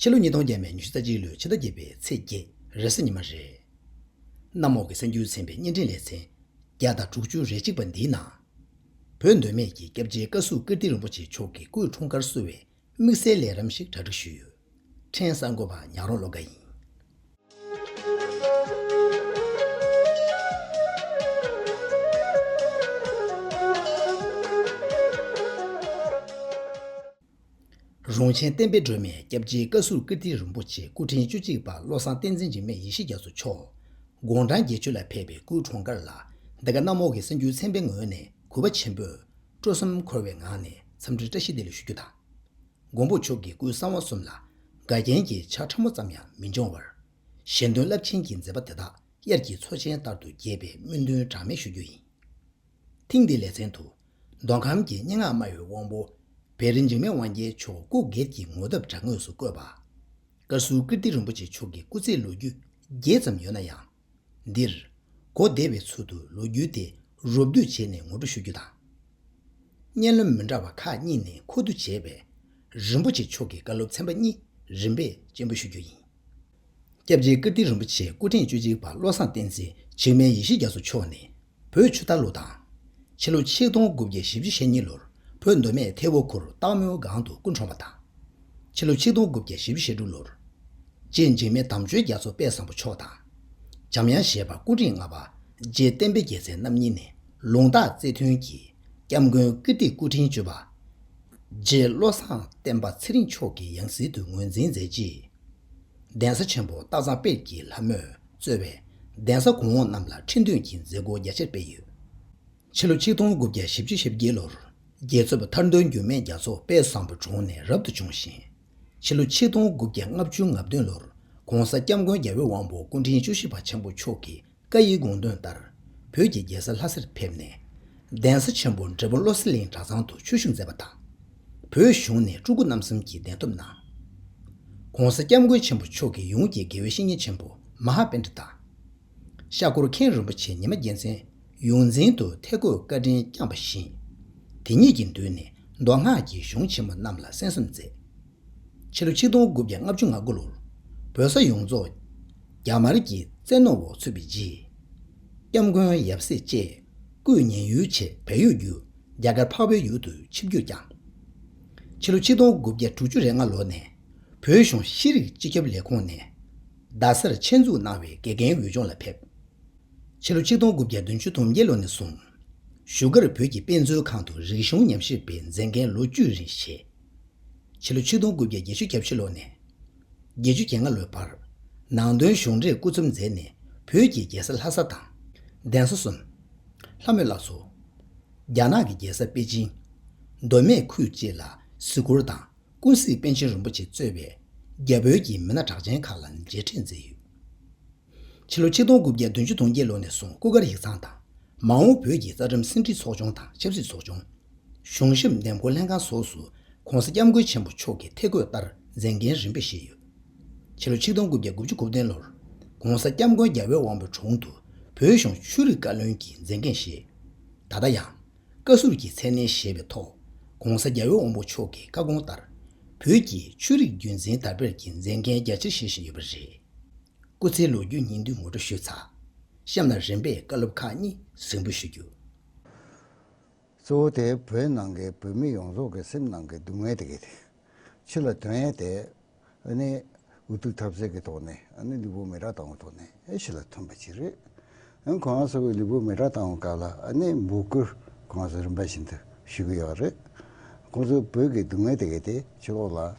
ཕྱི་ལོ་ཉིས་སྟོང་བརྒྱད་མའི་ཉི་ཤུ་རྩ་གཅིག་ལོའི་ཕྱི་ཟླ་བརྒྱད་པའི་ཚེས་བརྒྱད་རེས་གཟའ་ཉི་མ་རེད། གནམ་འོག་གི་གསར་འགྱུར་ཚན་པའི་བརྙན་འཕྲིན་ལེ་ཚན་བརྒྱ་དང་དྲུག་ཅུ་རེ་གཅིག་པ་འདིའི་ནང། བོད་འདོད་མེད་ཀྱི་སྐྱབས་རྗེ་བཀའ་ཟུར་ཀིརྟི་རིན་པོ་ཆེ་མཆོག་གི་སྐུའི་འཁྲུངས་སྐར་གསོལ་བའི་དམིགས་བསལ་ལས་རིམ་ཞིག་གྲ་སྒྲིག་ཞུས་ཡོད། ཕྲན་གསར་འགོད་པ་ཉག་རོང་བློ་དགའ་ཡིན། རོང་ཆེན་བསྟན་པའི་སྒྲོན་མེ་སྐྱབས་རྗེའི་བཀའ་ཟུར་ཀིརྟི་རིན་པོ་ཆེ་སྐུ་ཕྲེང་བཅུ་གཅིག་པ་བློ་བཟང་བསྟན་འཛིན་འཇིགས་མེད་ཡེ་ཤེས་རྒྱ་མཚོ་མཆོག། དགུང་གྲངས་བརྒྱད་ཅུ་ལ་ཕེབས་པའི་སྐུའི་གྲོང་དཀར་ལ་འདི་ག་གནམ་འོག་གི་གསར་འགྱུར་ཚན་པའི་ངོས་ནས་གུས་པ་ཆེན་པོས་སྤྲོ་སེམས་འཁོལ་བའི་ངང་ནས་འཚམས་འདྲིར་བཀྲ་ཤིས་བདེ་ལེགས་ཞུ་རྒྱུ་དང། མགོན་པོ་མཆོག་གི་སྐུའི་གསང་བ་གསུམ་ལ་དགའ་རྒྱན་གྱི་ཆ་ཕྲ་མོ་ཙམ་ཡང་མི་འབྱུང་བར། གཞན་དོན་རླབས་ཆེན་གྱི་མཛད་པ་དེ་དག་དབྱར་གྱི་མཚོ་ཆེན་ལྟར་དུ་རྒྱས་པའི་སྨོན་འདུན་གྲངས་མེད་ཞུ་རྒྱུ་ཡིན། ཐེངས་འདིའི་ལེ་ཚན་དུ། མདོ་ཁམས་ཀྱི་སྙན་ངག་སྨྲ་བའི་དབང་པོ། བེ་རི་འཇིགས་མེད་དབང་རྒྱལ་མཆོག་སྐུ་སྒེར་གྱི་ངོ་ཐབས་དྲ་ངོས་སུ་བཀོད་པ། ཀར་ཟུར་ཀིརྟི་རིན་པོ་ཆེ་མཆོག་གི་སྐུ་ཚེའི་ལོ་རྒྱུས་རྒྱས་ཙམ་ཡོད་ན་ཡང། འདིར། གོ་བདེ་བའི་ཚུལ་དུ་ལོ་རྒྱུས་དེ་རོབ་བསྡུས་བྱས་ནས་ངོ་སྤྲོད་ཞུ་རྒྱུ་དང། སྙན་རློན་མི་འདྲ་བ་ཁག་གཉིས་ནས་མཁོ་བསྡུ་བྱས་པའི། རིན་པོ་ཆེ་མཆོག་གི་བཀའ་སློབ་ཚན་པ་གཉིས་རིམ་པས་སྤྱན་འབུལ་ཞུ་རྒྱུ་ཡིན། སྐྱབས་རྗེ་ཀིརྟི་རིན་པོ་ཆེ་སྐུ་ཕྲེང་བཅུ་གཅིག་པ་བློ་བཟང་བསྟན་འཛིན་འཇིགས་མེད་ཡེ་ཤེས་རྒྱ་མཚོ་མཆོག་ནས་བོད་ཆུ་རྟ་ལོ་དང། ཕྱི་ལོ་ཆིག་སྟོང་དགུ་བརྒྱ་བཞི་བཅུ་ཞེ་གཉིས་ལོར་བོད་མདོ་སྨད་ཐེ་བོ་ཁུར་སྟག་མོའི་སྒང་དུ་སྐུ་འཁྲུངས་པ་དང། ཕྱི་ལོ་ཆིག་སྟོང་དགུ་བརྒྱ་བཞི་བཅུ་ཞེ་དྲུག་ལོར། རྗེ་འཇིགས་མེད་དམ་ཆོས་རྒྱ་མཚོ་དཔལ་བཟང་པོ་མཆོག་དང། འཇམ་དབྱངས་བཞད་པ་སྐུ་རིང་ལྔ་པ་རྗེ་བསྟན་འཕེལ་རྒྱལ་མཚན་རྣམ་གཉིས་ནས་ལུང་རྟགས་རྩེ་མཐུན་གྱིས་སྐྱབས་མགོན་ཀིརྟི་སྐུ་ཕྲེང་བཅུ་པ། རྗེ་བློ་བཟང་བསྟན་པ་ཚེ་རིང་མཆོག་གི་ཡང་སྲིད་དུ་ངོས་འཛིན་མཛད་རྗེས། གདན་ས་ཆེན་པོ་སྟག་ཚང་དཔལ་གྱི་ལྷ་མོས་གཙོས་པའི་གདན་ས་གོང་འོག་རྣམས་ལ་ཁྲི་འདོན་གྱི་མཛད་སྒོ་རྒྱ་ཆེར་སྤེལ་ཡོད། ཕྱི་ལོ་ཆིག་སྟོང་དགུ་བརྒྱ་བཞི་བཅུ་ཞེ་བརྒྱད་ལོར་རྒྱལ་ཚོད་པ་ཐར་འདོན་འགྱུར་མེད་རྒྱ་མཚོ་དཔལ་བཟང་པོ་གྲོངས་ནས་རབ་ཏུ་བྱུང་ཞིང། ཕྱི་ལོ་ཆིག་སྟོང་དགུ་བརྒྱ་ལྔ་བཅུ་ང་བདུན་ལོར ྋགོང་ས ྋསྐྱབས་མགོན་རྒྱལ་བའི་དབང་པོ་སྐུ་ཕྲེང་བཅུ་བཞི་པ་ཆེན་པོ་མཆོག་གི་བཀའ་ཡི་དགོངས་དོན་ལྟར་བོད་ཀྱི་རྒྱལ་ས་ལྷ་སར་ཕེབས་ནས། གདན་ས་ཆེན་པོ་འབྲས་སྤུངས་བློ་གསལ་གླིང་གྲྭ་ཚང་དུ་ཆོས་ཞུགས་མཛད་པ་དང། བོད་གཞུང་ནས་སྤྲུལ་སྐུ་རྣམ་གསུམ་གྱི་གདན་ཐོབ་གནང། ྋགོང་ས ྋསྐྱབས་མགོན་ཆེན་པོ་མཆོག་གིས་ཡོངས་ཀྱི་དགེ་བའི་བཤེས་གཉེན་ཆེན་པོ་མ་ཧཱ་དཔལ་ཁྲི་དང། ཤག་སྐོར་མཁན་རིན་པོ་ཆེ་ཉི་མ་རྒྱལ་མཚན་ཡོངས་འཛིན་དུ་ཐེ་གོས་བཀའ་དྲིན་བསྐྱངས་པ་བཞིན། དེ་ཉིད་ཀྱི་མདུན་ནས་མདོ་སྔགས་ཀྱི་གཞུང་ཆེན་མོ་རྣམས་ལ་གསན་གསུམ་མཛད། ཕྱི་ལོ་ཆིག་སྟོང་དགུ་བརྒྱ་ལྔ་བཅུ་ང་དགུ་ལོར་བོད་ས་ཡོངས་རྫོགས་རྒྱ་དམར་གྱི་བཙན་གནོན་འོག་ཚུད་པའི་རྗེས། ྋསྐྱབས་མགོན་ཡབ་སྲས་བཅས། སྐུད་སྙིང་ཡུལ་ཆེ་བལ་ཡུལ་རྒྱུ་རྒྱ་གར་འཕགས་བོད་ཡུལ་དུ་ཆིབས་བསྒྱུར་བསྐྱངས། ཕྱི་ལོ་ཆིག་སྟོང་དགུ་བརྒྱ་དྲུག་ཅུ་རེ་ལྔ་ལོ་ནས་བོད་གཞུང་ཤེས་རིག་སྤྱི་ཁྱབ་ལས་ཁུངས་ནས་རྡ་སར་ཆེད་འཛུགས་གནང་བའི་དགེ་རྒན་འོས་སྦྱོང་ལ་ཕེབས། ཕྱི་ལོ་ཆིག་སྟོང་དགུ་བརྒྱ་བདུན་ཅུ་དུང་བརྒྱད་ལོ་ནས་བཟུང་བཞུགས་སྒར་བོད་ཀྱི་དཔེ་མཛོད་ཁང་དུ་རིག་གཞུང་ཉམས་ཞིབ་པའི་མཛད་འགན་ལོ་བཅུ་རིང་བཞེས། ཕྱི་ལོ་ཆིག་སྟོང་དགུ་བརྒྱ་བརྒྱད་ཅུ་གྱ་བཞི་ལོ་ནས། བརྒྱད་ཅུ་གྱ་ལྔ་ལོའི་བར། ནང་དོན་གཞུང་འབྲེལ་སྐུ་ཚབ་མཛད་ནས་བོད་ཀྱི་རྒྱལ་ས་ལྷ་ས་དང། གདན་ས་སུམ། ལྷ་མོ་བླ་མཚོ། རྒྱ་ནག་གི་རྒྱལ་ས་པེ་ཅིང། མདོ་སྨད་ཁུལ་བཅས་ལ་གཟིགས་སྐོར་དང་ཀུན་གཟིགས་པཎ་ཆེན་རིན་པོ་ཆེ་གཙོས་པའི་རྒྱ་བོད་ཀྱི་མི་སྣ་གྲགས་ཅན་ཁག་ལ་མཇལ་འཕྲད་མཛད་ཡོད། ཕྱི་ལོ་ཆིག་སྟོང་དགུ་བརྒྱ་བདུན་ཅུ་དུང་བརྒྱད་ལོ་ནས་བཟུང་སྐུ་སྒར་ཡིག་ཚང་དང། མ་འོངས་བོད་ཀྱི་རྩ་ཁྲིམས་ཟིན་བྲིས་ཚོགས་ཆུང་དང་ཆབ་སྲིད་ཚོགས་ཆུང། གཞུང་ཞབས་འདེམས་བསྐོ་ལྷན་ཁང་སོགས་སུ ྋགོང་ས ྋསྐྱབས་མགོན་ཆེན་པོ་མཆོག་གི་ཐེ་བསྐོས་ལྟར་མཛད་འགན་རིམ་པས་བཞེས་ཡོད། ཕྱི་ལོ་ཆིག་སྟོང་དགུ་བརྒྱ་དགུ་བཅུ་དགུ་བདུན་ལོར ྋགོང་ས ྋསྐྱབས་མགོན་རྒྱ་བལ་དབང་པོའི་དྲུང་དུ་བོད་གཞུང་ཆོས་རིག་བཀའ་བློན་གྱི་མཛད་འགན་བཞེས། ད་ལྟ་ཡང། བཀའ་ཟུར་གྱི་མཚན་གནས་བཞེས་པའི་ཐོག ྋགོང་ས་རྒྱ་བལ་དབང་པོ་མཆོག་གི་བཀའ་དགོངས་ལྟར། བོད་ཀྱི་ཆོས་རིག་རྒྱུན་འཛིན་དར་སྤེལ་གྱི་མཛད་འགན་རྒྱ་ཆེར་བཞེས་བཞིན་ཡོད་པ་རེད། སྐུ་ཚེའི་ལོ་རྒྱུས་སྙིང་བསྡུས་ངོ་སྤྲོད་ཞུས་ཚར། གཤམ་ལ་རིམ་པས་བཀའ་སློབ་ཁག་གཉིས་གཟིགས་འབུལ་ཞུ་རྒྱུ། གཙོ་བོ་དེ་བོད་ནང་གི་བོད་མི་ཡོངས་རྫོགས་ཀྱི་སེམས་ནང་གི་སྡུག་བསྔལ་དེ་གས། ཕྱི་ལ་དོན་ཡས་དེ། ཨ་ནི། འུ་ཐུག་ཐབས་ཟད་ཀྱི་ཐོག་ནས་ཨ་ནི་ལུས་པོ་མེ་ར་དང་བོ་ཐོག་ནས་ཨེ་ཤི་ལ་ཐོན་པ་ཅི་རེད། ཡང་ཁོང་ཨ་ས་བའི་ལུས་པོ་མེ་ཁྲག་བཏང་བའི་སྐབས་ལ་ཨ་ནེ་འབུ་སྐུ་ཁོང་ཚོ་རིམ་པ་བཞིན་དུ་ཞུ་གི་ཡོད་རེད། ཁོང་ཚོའི་བོད་ཀྱི་སྡུག་བསྔལ་དེ་གའི་དེ་ཕྱི་ལོག་ལ།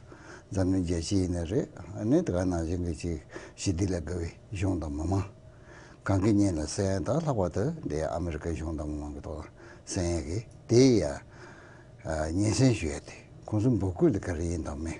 འཛམ་གླིང་རྒྱལ་སྤྱི་ཡི་ནས་རེད་ཨ་ནེ་དེ་ག་ནང་བཞིན་གྱི་ཅིག་ཞི་བདེ་ལ་དགའ་བའི་གཞུང་དང་མི་མང། གང་གི་སྙན་ལ་གསན་ཡང་དག་ལྷག་པར་དུ་འདི་ཨ་མི་རི་ཀའི་གཞུང་དང་མི་མང་གི་ཐོག་ལ་གསན་ཡས་གི་དེ་ཡི་ཡ། སྙན་གསན་ཞུ་ཡས་དེ་ཁོང་ཚོའི་འབུ་སྐུ་དེ་ག་རེ་ཡིན་དང་མིན།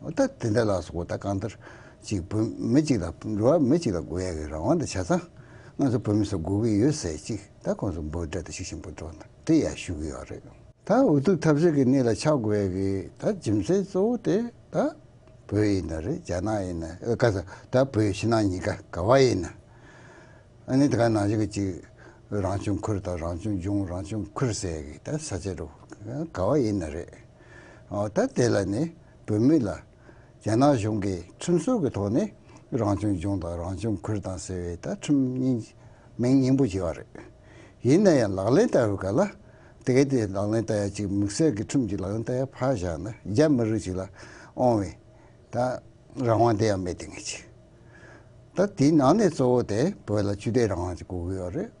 ད་དེ་འདྲ་ལགས་སོ་ད་གང་ལྟར་ཅིག་བོད་མི་གཅིག་ལ་འགྲོ་བ་མི་གཅིག་ལ་དགོས་ཡག་གི་རང་དབང་དང་བྱ་ཚང་ང་ཚོ་བོད་མི་ཚོ་དགོས་ཀྱི་ཡོད་ཟེར་ཅིག་ད་ཁོང་ཚོ་འབོད་སྒྲ་དང་ཤུགས་ཆེན་པོ་སྒྲོག་ན་དེ་ཡག་ཞུ་གི་ཡོག་རེད། ད་འུ་ཐུག་ཐབས་ཟད་ཀྱི་གནས་ལ་ཆགས་དགོས་ཡག་གི་ད་རྗེ་མཚན་གཙོ་བོ་དེ་ད་བོད་ཡིན་ན་རེད་རྒྱ་ནག་ཡིན་ན་ཨ་ཀ་ས་ད་བོད་ཕྱི་ནང་གཉིས་ཀ་ག་བ་ཡིན་ན་ཨ་ནི་ད་ག་ནང་བཞིན་ཅིག་རང་བྱུང་ཁུལ་ད་རང་བྱུང་ལྗོངས་རང་བྱུང་ཁུལ་ཟེར་ཡག་གི་ད་ས་ཆ་རུ་ག་བ་ཡིན་ན་རེད། ད་དེ་ལ་ནི་བོད་མི་ལ་རྒྱ་ནག་གཞུང་གིས་ཁྲིམས་སྲོལ་གྱི་ཐོག་ནས་རང་བྱུང་ལྗོངས་དང་རང་བྱུང་ཁུལ་དང་ཟེར་བའི་ད་ཁྲིམས་སྙིང་མིང་སྙིང་པོ་བྱས་པ་རེད། ཡིན་ན་ཡང་ལག་ལེན་བསྟར་བའི་སྐབས་ལ་དེ་ག་དེ་ལག་ལེན་བསྟར་ཡ་གཅིག་དམིགས་བསལ་གྱི་ཁྲིམས་གཅིག་ལག་ལེན་བསྟར་ཡ་ཕར་བཞག་ན་རྒྱ་མི་རིགས་ཅིག་ལ་དབང་བའི་ད་རང་དབང་དེ་ཡང་མེད་དེ་ངེས་ཅི། ད་དེའི་ནང་ནས་གཙོ་བོ་དེ་བོད་ལ་ཆོས་དད་རང་དབང་ཅིག་གོ་དགོས་པ་རེད།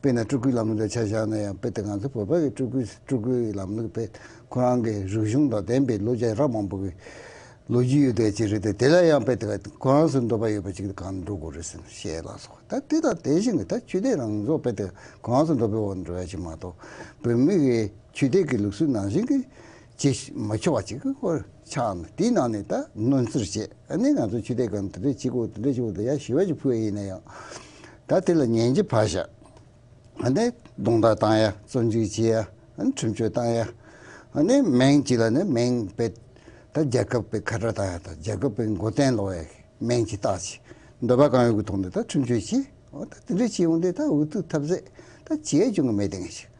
དཔེར་ན་སྤྲུལ་སྐུའི་ལམ་ལུགས་ལ་ཆ་བཞག་ན་ཡང་དཔེ་དེ་ང་ཚོ་བོད་པ་ཡི་སྤྲུལ་སྐུའི་ལམ་ལུགས་དཔེ་ཁོ་རང་གི་རིག་གཞུང་དང་ལྡན་པའི་ལོ་བརྒྱ་རབས་མང་པོ་གི་ལོ་རྒྱུས་ཡོད་དོན་ཅིག་རེད་དེ་དེ་ལ་ཡང་དཔེ་དེ་ག་ཁོ་རང་ཚོའི་འདོད་པ་ཡོད་པ་ཅིག་གང་འགྲོ་དགོས་རེད་ཟེར་ན་ཞེས་ལ་སོགས་ད་དེ་དང་དེ་བཞིན་གྱི་ད་ཆོས་དད་རང་བཟོ་དཔེ་དེ་ག་ཁོ་རང་ཚོའི་འདོད་པའི་འོག་འགྲོ་ཡ་ཅིག་མ་གཏོགས་བོད་མི་གི་ཆོས་དད་ཀྱི་ལུགས་སྲོལ་ནང་བཞིན་གྱི་ཅེས་མ་འཁྱོལ་བ་ཅིག་ཧོར་ཆགས་ནས་དེའི་ནང་ནས་ད་གནོན་ཚུལ་བྱས་ནས་ང་ཚོ་ཆོས་དད་ཁང་དེ་འདྲས་གཅིག་གོ་དེ་འདྲས་གཅིག་གོ་དེ་ཡང་ཞི་བ་ཞིག་ཕུལ་བ་ཡིན་ན་ཡང་ད་དེ་ལ་ཉན་གྱི་བར་བཞག་ཨ་ནི་རྡུང་རྡེག་བཏང་ཡ་བཙོན་འཇུག་བྱས་ཡ་ཨ་ནི་ཁྲིམས་གཅོད་བཏང་ཡ་ཨ་ནི་མིང་གཅིག་ལ་ནི་མིང་པས་ད་རྒྱལ་ཁབ་པའི་ཁ་བྲལ་བཏང་ཡ་ད་རྒྱལ་ཁབ་པའི་མགོ་བརྟེན་ལོག་ཡ་མིང་གཅིག་བཏགས་ཆེ་འདོད་པ་གང་ཡོད་ཀྱི་ཐོག་ནས་ད་ཁྲིམས་གཅོད་བྱས་ཨོ་ད་དེ་འདྲས་བྱས་འོང་དེ་ད་འུ་ཐུག་ཐབས་ཟད་ད་བྱས་ཀྱང་གི་མེད་དེ་ངས་ཤིག།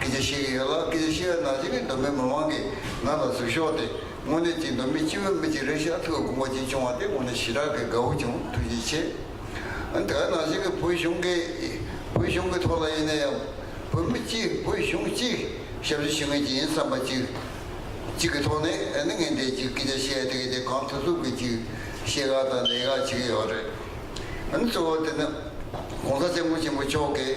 སྐད་ཆ་བཤད་ཀྱི་ཡོད་ལ་སྐད་ཆ་བཤད་བའི་ནང་བཞིན་ནི་མདོ་སྨད་མི་དམངས་ཀྱིས་ང་ལ་གཟིགས་ཤོག་སྟེ་དངོས་གནས་ཀྱིས་མདོ་སྨད་སྤྱི་བོའི་མི་གཅིག་རེད་ཤག་ཐུགས་ཀྱི་དགོངས་པ་གཅིག་བྱུང་བ་དེ་དངོས་གནས་ཞེ་དྲག་གི་དགའ་བོ་བྱུང་ཐུགས་རྗེ་ཆེ། དེ་ག་ནང་བཞིན་གྱི་བོད་གཞུང་གི་བོད་གཞུང་གི་ཐོག་ལ་ཡིན་ན་ཡང་བོད་མི་གཅིག་བོད་གཞུང་གཅིག་ཞབས་ཕྱི་ཞུ་མཁན་གཅིག་ཡིན་བསམ་པ་གཅིག་གཅིག་གི་ཐོག་ནས་ནི་ངས་འདས་གཅིག་སྐད་ཆ་བཤད་དེ་ག་དེ་གང་ཐུབ་ཐུབ་ཀྱིས་གཅིག་བཤད་དགའ་དང་ལས་དགའ་བྱེད་ཀྱི་ཡོད་རེད། གཙོ་བོ་དེ་ནི ྋགོང་ས ྋསྐྱབས་མགོན་ཆེན་པོ་མཆོག་གིས།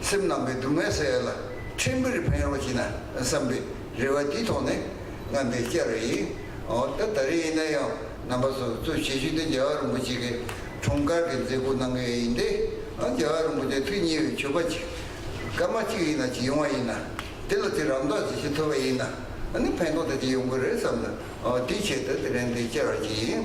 སེམས་རྣམ་པའི་སྡུག་བསྔལ་བསལ་ལ་ཕྲིན་བུར་ཕན་རོགས་བགྱིད་ན་བསམ་པའི་རེ་བ་འདི་ཐོག་ནས་རྔམ་པའི་སྐྱ་རེངས་ཡིན། འོ་ད་ད་རེས་ཡིན་ན་ཡང་རྣམ་པ་སོ་སོ་བྱེད་རྒྱུ་དེ་རྒྱལ་བ་རིན་པོ་ཆེ་གི་འཁྲུངས་སྐར་གྱི་མཛད་སྒོ་གནང་གི་ཡིན་ཏེ། རྒྱལ་བ་རིན་པོ་ཆེ་ཐུགས་མཉེས་པའི་མཆོད་པ་ཅིག་སྐར་མ་གཅིག་ཡིན་ན་གཅིག་ཡོང་བ་ཡིན་ན་དེ་ལ་དེ་རང་མདོག་ཅིག་ཤེས་ཐུབ་པ་ཡིན་ན་ཕན་ཐོགས་དེ་ཅིག་ཡོང་གི་རེད་བསམ་ན་དེའི་ཆེད་དུ་དེ་རིང་འདི་བཅར་བ་ཅིག་ཡིན།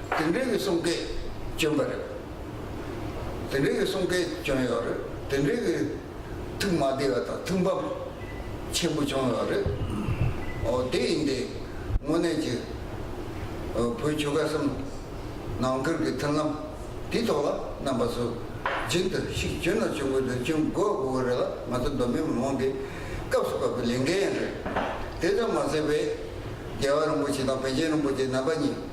དེ་འདྲའི་མི་གསུམ་སྐད་སྐྱོན་པ་རེད། དེ་འདྲའི་མི་གསུམ་སྐད་སྐྱོན་ཡོད་རེད། དེ་འདྲའི་མི་ཐུགས་མ་བདེ་བ་དང་ཐུགས་འབབ་ཆེན་པོ་བྱུང་ཡོད་རེད། འོ་དེ་ཡིན་ཏེ། དངོས་གནས་ཀྱི། བོད་ཆོལ་ཁ་གསུམ། ནང་ཁུལ་གྱི་མཐུན་ལམ། དེའི་ཐོག་ལ་རྣམ་པ་ཚོས་རྒྱུན་དུ་ཤུགས་སྐྱོན་ནོར་བྱུང་དགོས་དོན་ཅུང་དགོས་དགོས་ཀྱི་རེད་ལ་ང་ཚོ་གདོད་མའི་མི་མང་གི་སྐབས་སུ་བབས་པའི་ལས་འགན་ཡང་རེད། དེ་ཙམ་མ་ཟད་བོད་རྒྱལ་བ་རིན་པོ་ཆེ་དང་བོན་ཆེན་རིན་པོ་ཆེ་རྣམ་པ་གཉིས།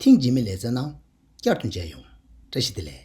ཐེངས་རྗེས་མའི་ལས་བཙལ་ནང་བསྐྱར་དུ་མཇལ་ཡོང། བཀྲ་ཤིས་བདེ་ལེགས།